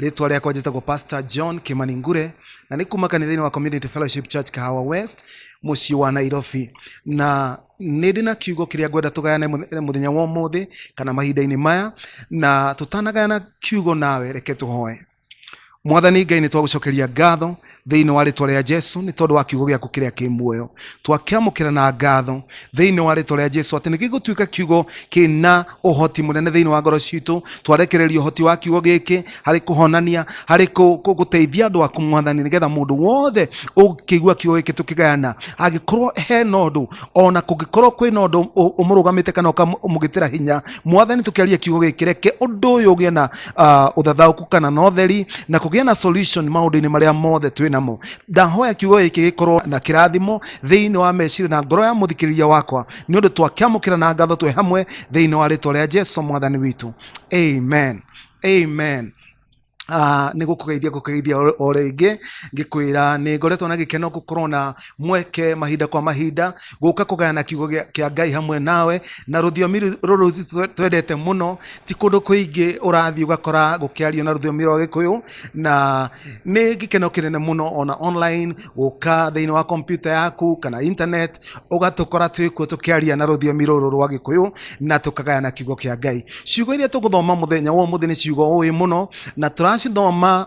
rĩtwa rĩakwa njĩtagwo pastor john kimani ngure na nĩ kuma kanitha-inĩ wa community fellowship church kahawa west mũciĩ wa nairobi na nĩ ndĩ na kiugo kĩrĩa ngwenda tũgayane mũth- mũthenya wa ũmũthĩ kana mahinda-inĩ maya na tũtanagayana kiugo nawe reke tũhoe mwathani ngai nĩ twagũcokeria ngatho thĩinĩ wa rĩtwa rĩa jesu nĩ tondũ wa kiugo gĩaku kĩrĩa kĩ muoyo twakĩamũkĩra na ngatho thĩinĩ wa rĩtwa rĩa jesu atĩ nĩ gĩgũtuĩka kiugo kĩna ũhoti mũnene thĩinĩ wa ngoro citũ twarekereria ũhoti wa kiugo gĩkĩ harĩ kũhonania harĩ kũ- kũ- gũteithia andũ aku mwathani nĩgetha mũndũ wothe ũkĩigua kiugo gĩkĩ tũkĩgayana angĩkorwo he na ũndũ ona kũngĩkorwo kwĩ na ũndũ ũ- ũmũrũgamĩte kana ũkamũgĩtĩra hinya mwathani tũkĩaria kiugo gĩkĩ reke ũndũ ũyũ ũgĩe na uh, uthathauku kana na utheri na kugia na solution maundu-ini maria mothe twi namo ndahoya kiugo giki gikorwo na kirathimo thiini wa meciria na ngoro ya muthikiriria wakwa ni undu twakiamukira na ngatho twi hamwe thiini wa ritwa ria jesu mwathani witu amen amen Ah, nä gå kå geithia gå kå geithia o rä ngä ngä kwä ra nä ngoretwo na gä keno gå korwo na mweke mahinda kwa mahinda gũka kũgayana kiugo gĩa- kĩa ngai hamwe nawe na rũthiomi rũ- rũrũ twe- twendete mũno ti kũndũ kũingĩ ũrathiĩ ũgakora gũkĩario na rũthiomi rwa gĩkũyũ na nĩ gĩkeno kĩnene mũno ona online gũka thĩinĩ wa kompyuta yaku kana internet ũgatũkora twĩ kuo tũkĩaria na rũthiomi rũrũ rwa gĩkũyũ na tũkagayana kiugo kĩa ngai ciugo iria tũgũthoma mũthenya wa ũmũthĩ nĩ ciugo ũĩ mũno na tũracithoma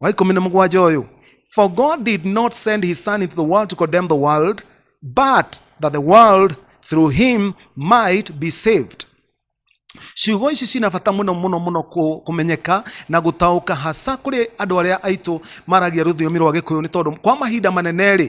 wa ikũmi na mũgwanja ũyũ for god did not send his son into the world to condemn the world but that the world through him might be saved ciugo ici cina bata mũno mũno mũno kũ- kũmenyeka na gũtaũka hasa kũrĩ andũ arĩa aitũ maragia rũthiomi rwa gĩkũyũ nĩ tondũ kwa mahinda manene-rĩ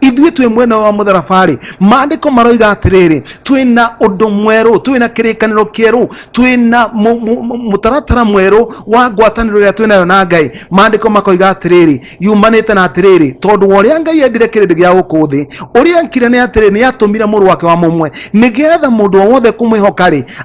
ithuĩ twĩ mwena wa mũtharaba-rĩ maandĩko maroiga atĩrĩrĩ twĩ na ũndũ mwerũ twĩ na kĩrĩkanĩro kĩerũ twĩ na mu- mu- mu- mũtaratara mwerũ wa ngwatanĩro ĩrĩa twĩ nayo na ngai maandĩko makoiga atĩrĩrĩ yumanĩte na atĩrĩrĩ tondũ wa ũrĩa ngai endire kĩrĩndĩ gĩa gũkũ thĩ ũrĩa enkire nĩ atĩrĩrĩ nĩ atũmire mũrũ wake wa mũmwe nĩgetha mũndũ o wothe kũmwĩhoka-rĩ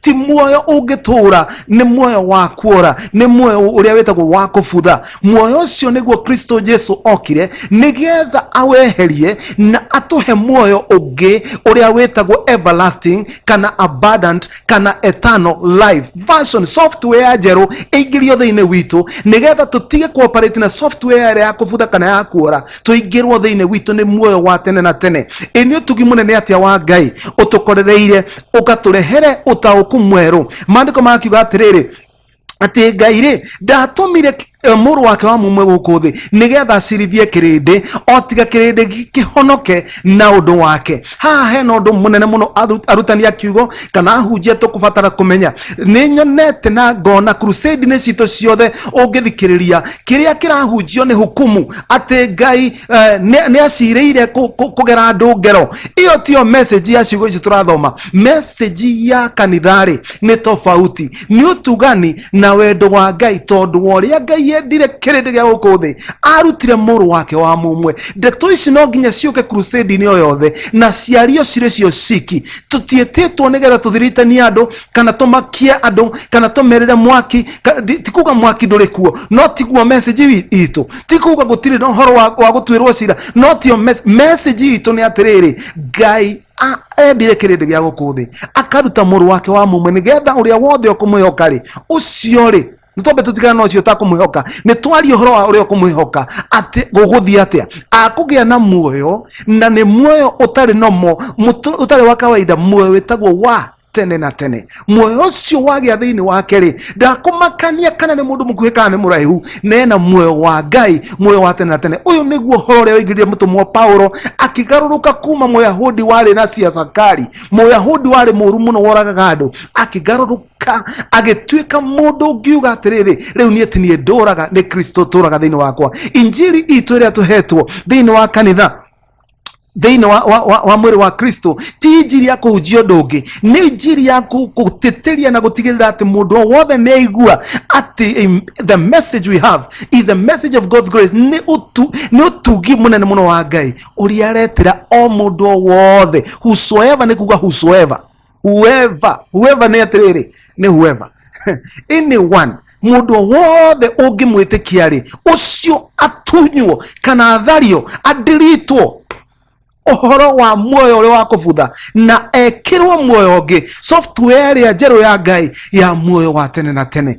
ti muoyo ũngĩtũũra nĩ muoyo wa kuora nĩ muoyo ũrĩa wĩtagwo wa kũbutha muoyo ũcio nĩguo kristo jesu okire nĩgetha aweherie na atũhe muoyo ũngĩ ũrĩa wĩtagwo everlasting kana abundant kana eternal life version software njerũ ĩingĩrio thĩinĩ witũ nĩgetha tũtige kuoperate na software ĩrĩa ya kũbutha kana ya kuora tũingĩrwo thĩinĩ witũ nĩ muoyo wa tene na tene ĩ nĩ ũtugi mũnene atĩa wa ngai ũtũkorereire ũkatũrehere ũtaũku mwerũ maandĩko magakiuga atĩrĩrĩ atĩ ngai rĩ ndatũmire k- eh, mũrũ wake wa mumwe gũkũ thĩ nĩgetha acirithie kĩrĩndĩ o tiga kĩrĩndĩ gĩ- kĩhonoke na ũndũ wake haha hena ũndũ mũnene mũno aru- arutani a kiugo kana ahunjia tũkũbatara kũmenya nĩ nyonete na ngona crusade-inĩ citũ ciothe ũngĩthikĩrĩria kĩrĩa kĩrahunjio nĩ hukumu atĩ ngai eh, nĩ nĩ acirĩire kũ- kũ- kũgera andũ ngero ĩyo tiyo message ya ciugo ici tũrathoma message ya kanitharĩ nĩ tofauti nĩ ũtugani na wendo wa ngai tondũ wa ũrĩa ngai yendire kĩrĩndĩ gĩa gũkũ thĩ arutire mũrũ wake wa mũmwe ndeto ici no nginya ciũke crusade-inĩ o yothe na ciario cirĩ cio ciki tũtiĩtĩtwo nĩgetha tũthiritanie andũ kana tũmakie andũ kana tũmerĩre mwaki ka- ndi- ti kuga mwaki ndũrĩ kuo no tiguo message wi- itũ ti kuga gũtirĩ na ũhoro wa wa gũtuĩrwo cira no tio mes- message itũ nĩ atĩrĩrĩ ngai a- endire kĩrĩndĩ gĩa gũkũ thĩ akaruta mũrũ wake wa mũmwe nĩgetha ũrĩa wothe ũkũmwĩhoka rĩ ũcio rĩ nĩ twambe tũtigana na ũcio ũtakũmwĩhoka nĩ twarie ũhoro wa ũrĩa ũkũmwĩhoka atĩ gũgũthiĩ atĩa akũgĩa na muoyo na nĩ muoyo ũtarĩ nomo mũtũ- ũtarĩ wa kawaida muoyo wĩtagwo wa tene na tene muoyo ũcio wagĩa thĩinĩ wake rĩ ndakũmakania kana nĩ mũndũ mũkuhĩ kana nĩ mũraihu nena muoyo wa ngai muoyo wa tene na tene ũyũ nĩguo ũhoro ũrĩa waingĩrire mũtũmwo paulo akĩgarũrũka kuma mũyahudi warĩ na siasakari mũyahudi warĩ mũũru mũno woragaga andũ akĩgarũrũka agĩtuĩka mũndũ ũngiuga atĩrĩrĩ rĩu niĩ ti niĩ ndũraga nĩ kristo ũtũraga thĩinĩ wakwa injiri itũ ĩrĩa tũhetwo thĩinĩ wa kanitha thĩinĩ wa, wa, wa, wa mwĩrĩ wa kristo ti njiri ya kũhunjia ũndũ ũngĩ nĩ njiri ya kũ- gũtĩtĩria na gũtigĩrĩra atĩ mũndũ o wothe nĩ aigua atĩ em, the message we have is a message of god's grace nĩ ũtu- nĩ ũtungi mũnene mũno wa ngai ũrĩa aretĩra o mũndũ o wothe whosoever nĩ kuga whosoever whoever whoever nä atä rä rä nä whoever anyone må ndå wothe å ngä mwä tä kia rä å cio atunywo kana athario andiritwo ũhoro wa muoyo ũrĩa wa kũbutha na ekĩrwo muoyo ũngĩ software ĩrĩa njerũ ya ngai ya muoyo wa tene na tene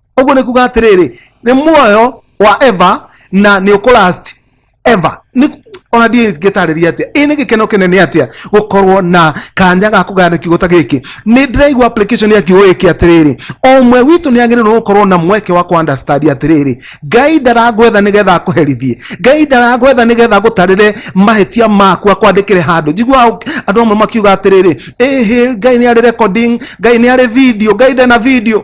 ũguo nĩ kuga atĩrĩrĩ nĩ muoyo wa eva na nĩ ũkũlast eva Nĩ- ona ndiĩ ngĩtarĩria atĩa ĩ nĩ gĩkeno kĩnene atĩa gũkorwo na kanya ga kũgayana kiugo ta gĩkĩ nĩ ndĩraigua application ya kiugo gĩkĩ atĩrĩrĩ o ũmwe witũ nĩ agĩrĩirwo gũkorwo na mweke wa kũandastandi atĩrĩrĩ ngai ndarangwetha nĩgetha akũherithie ngai ndarangwetha nĩgetha gũtarĩre mahĩtia maku akwandĩkĩre handũ njiguaga ũk- andũ amwe makiuga atĩrĩrĩ ĩhĩ ngai nĩ arĩ recording ngai nĩ arĩ video ngai ndena video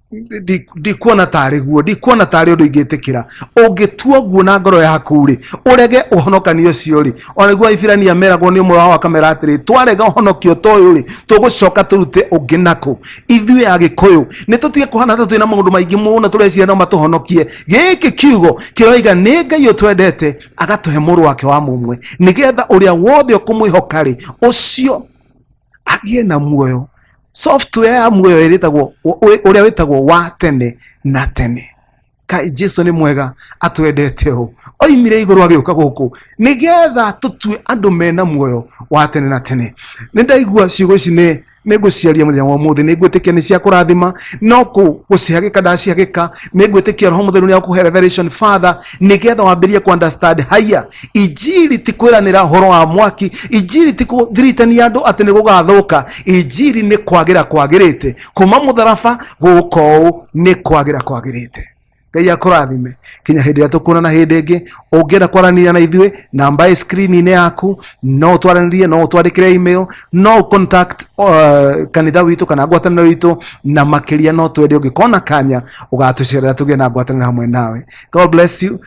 Ndi- ndikuona tarĩ guo ndikuona tarĩ ũndũ ingĩtĩkĩra ũngĩtua guo na ngoro yaku rĩ ũrege ũhonokanio ũcio rĩ onagua aibirania meragwo nĩ ũmwe wao akamera atĩrĩ twarega ũhonokio ta ũyũ rĩ tũgũcoka tũrute ũngĩ nakũ ithuĩ agĩkũyũ nĩ tũtige kũhana ta twĩ na maũndũ maingĩ mũno tũreciria no matũhonokie gĩkĩ kiugo kĩroiga nĩ ngai ũtwendete agatũhe mũrũ wake wa mũmwe nĩgetha ũrĩa wothe ũkũmwĩhoka rĩ ũcio agĩe na muoyo software ya muoyo ĩrĩtagwo ũrĩa wĩtagwo wa tene na tene kai jesu nĩ mwega atwendete ũũ oimire igũrũ agĩũka gũkũ nĩgetha tũtue andũ mena muoyo wa tene na tene nĩ ndaigua ciugo ici nĩ nĩ ngũciaria mũthenya wa ũmũthĩ nĩ ngwĩtĩkia nĩ cia kũrathima no kũ- gũcihagĩka ndacihagĩka nĩ ngwĩtĩkia roho mũtheru nĩ akũhe revelation father nĩgetha wambĩrĩrie kũ understand higher injiri ti kwiranira horo wa mwaki injiri ti kuthiritania andu ati ni gugathuka injiri ni kwagira kwagirite kuma mutharaba guka uu ni kwagira kwagirite ngai akurathime kinya hindi ria tukuonana hindi ingi ungienda kwaranĩria na ithuĩ namba ĩ screen-inĩ yaku no twaranĩrie no twandĩkĩre email no contact uh, kanitha witũ kana ngwatanĩro witũ na makĩria no twende ũngĩkona kanya ũgatũcerera tũgĩe na ngwatanĩro hamwe nawe god bless you